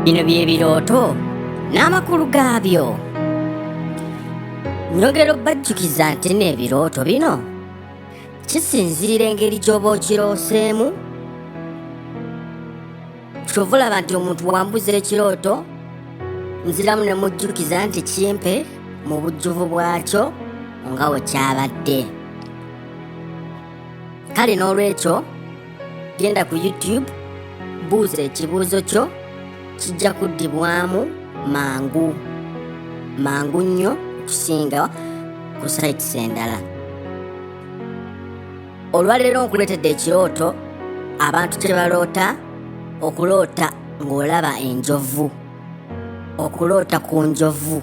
bino by'ebirooto n'amakulu gaabyo njogera obbajjukiza nti n'ebirooto bino kisinziira engeri gy'oba okirooseemu kyova olaba nti omuntu wambuza ekirooto nziramu ne mujjukiza nti kimpe mu bujjuvu bwakyo nga wekyabadde kale n'olwekyo genda ku youtube buuza ekibuuzo kyo kijja kuddibwamu mangu mangu nnyo okusinga ku sites endala olwaleero nkuleetedde ekirooto abantu kye baloota okuloota ng'olaba enjovu okuloota ku njovu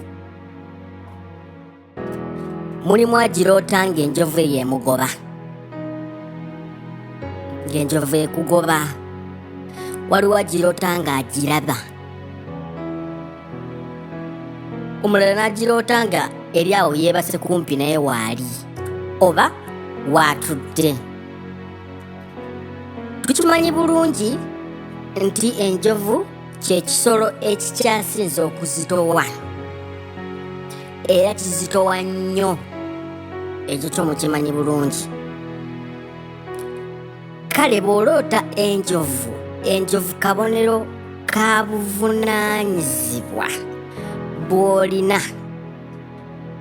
mulimu agiroota ng'enjovu eyo emugoba ng'enjovu ekugoba waliwo agiroota ng'agiraba omulala n'agiroota nga eri awo yeebase kumpi naye waali oba waatudde tukimanyi bulungi nti enjovu kyekisolo ekikyasinze okuzitowa era kizitowa nnyo ekyo kyo mukimanyi bulungi kale bw'oloota enjovu enjovu kabonero ka buvunaanyizibwa bw'olina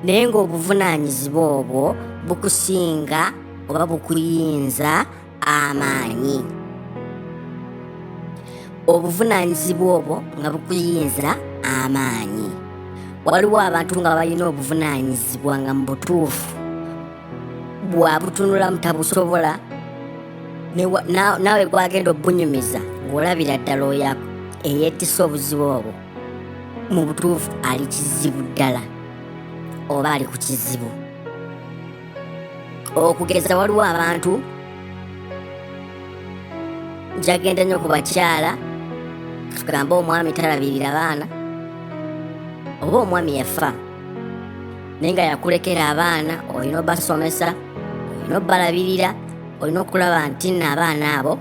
naye ng'obuvunaanyizibwa obwo bukusinga oba bukuyinza amaanyi obuvunaanyizibwa obwo nga bukuyinza amaanyi waliwo abantu nga balina obuvunaanyizibwa nga mu butuufu bwabutunula mutabusobola naawe gwagenda obunyumiza ng'olabira ddala oyo eyeetisa obuzibu obwo mu butuufu ali kizibu ddala oba ali ku kizibu okugeza waliwo abantu jagenda nnyo ku bakyala tugambe omwami talabirira abaana oba omwami yafa naye nga yakulekera abaana olina obasomesa olina obalabirira olina okulaba nti nno abaana abo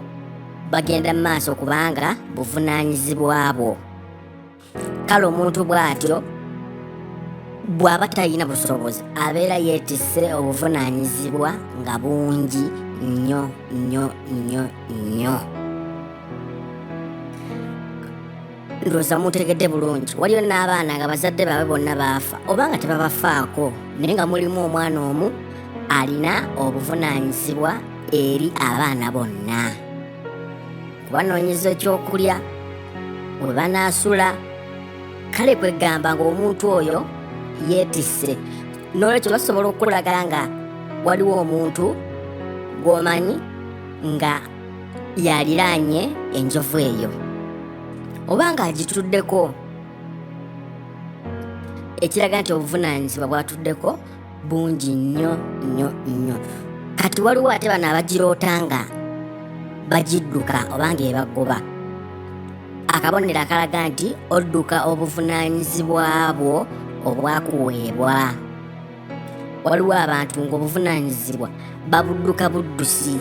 bagenda mu maaso kubanga buvunaanyizibwa bwo kale omuntu bw'atyo bw'aba talina busobozi abeera yeetisse obuvunaanyizibwa nga bungi nnyo nnyo nnyo nnyo ndowooza mutegedde bulungi waliyo n'abaana nga bazadde baabwe bonna baafa oba nga tebabafaako naye nga mulimu omwana omu alina obuvunaanyizibwa eri abaana bonna kubanoonyeza ekyokulya we banaasula kale kwegamba ng'omuntu oyo yeetisse n'olwekyo basobola okukulaga nga waliwo omuntu gw'omanyi nga yaliraanye enjovu eyo oba ng'agituddeko ekiraga nti obuvunaanyizibwa bwatuddeko bungi nnyo nnyo nnyo kati waliwo ate bano abagiroota nga bagidduka oba nga ebagoba akabonero akalaga nti odduka obuvunaanyizibwa bwo obwakuweebwa waliwo abantu ng'obuvunaanyizibwa babudduka buddusi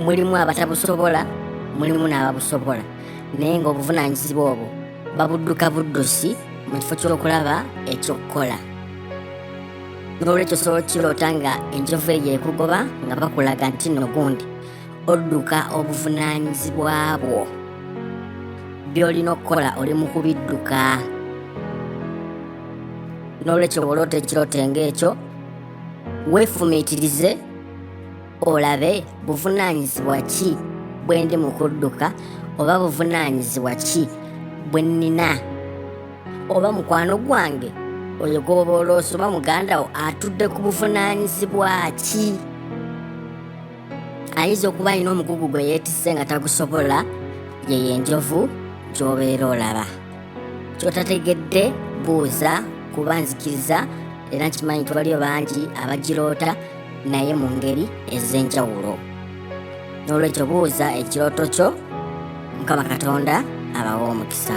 mulimu abatabusobola mulimu n'ababusobola naye ng'obuvunaanyizibwa obwo babudduka buddusi mu kifo ky'okulaba eky'okukola n'olwekyo sobola okiroota nga enjovu eyo ekugoba nga bakulaga nti no gundi odduka obuvunaanyizibwa bwo by'olina okukola oli mu kubidduka n'olwekyo bw'oloota ekirooto ng'ekyo weefumiitirize olabe buvunaanyizibwa ki bwe ndi mu kudduka oba buvunaanyizibwa ki bwe nnina oba mukwano gwange oyo gw'oba oloosa oba muganda wo atudde ku buvunaanyizibwa ki ayinza okuba alina omugugu gwe yeetisse nga tagusobola yeyo enjovu gy'obeera olaba kyotategedde buuza kuba nzikiriza era nkimanyi tubaliyo bangi abagiroota naye mu ngeri ez'enjawulo n'olwekyo buuza ekirooto kyo mukama katonda abawa omukisa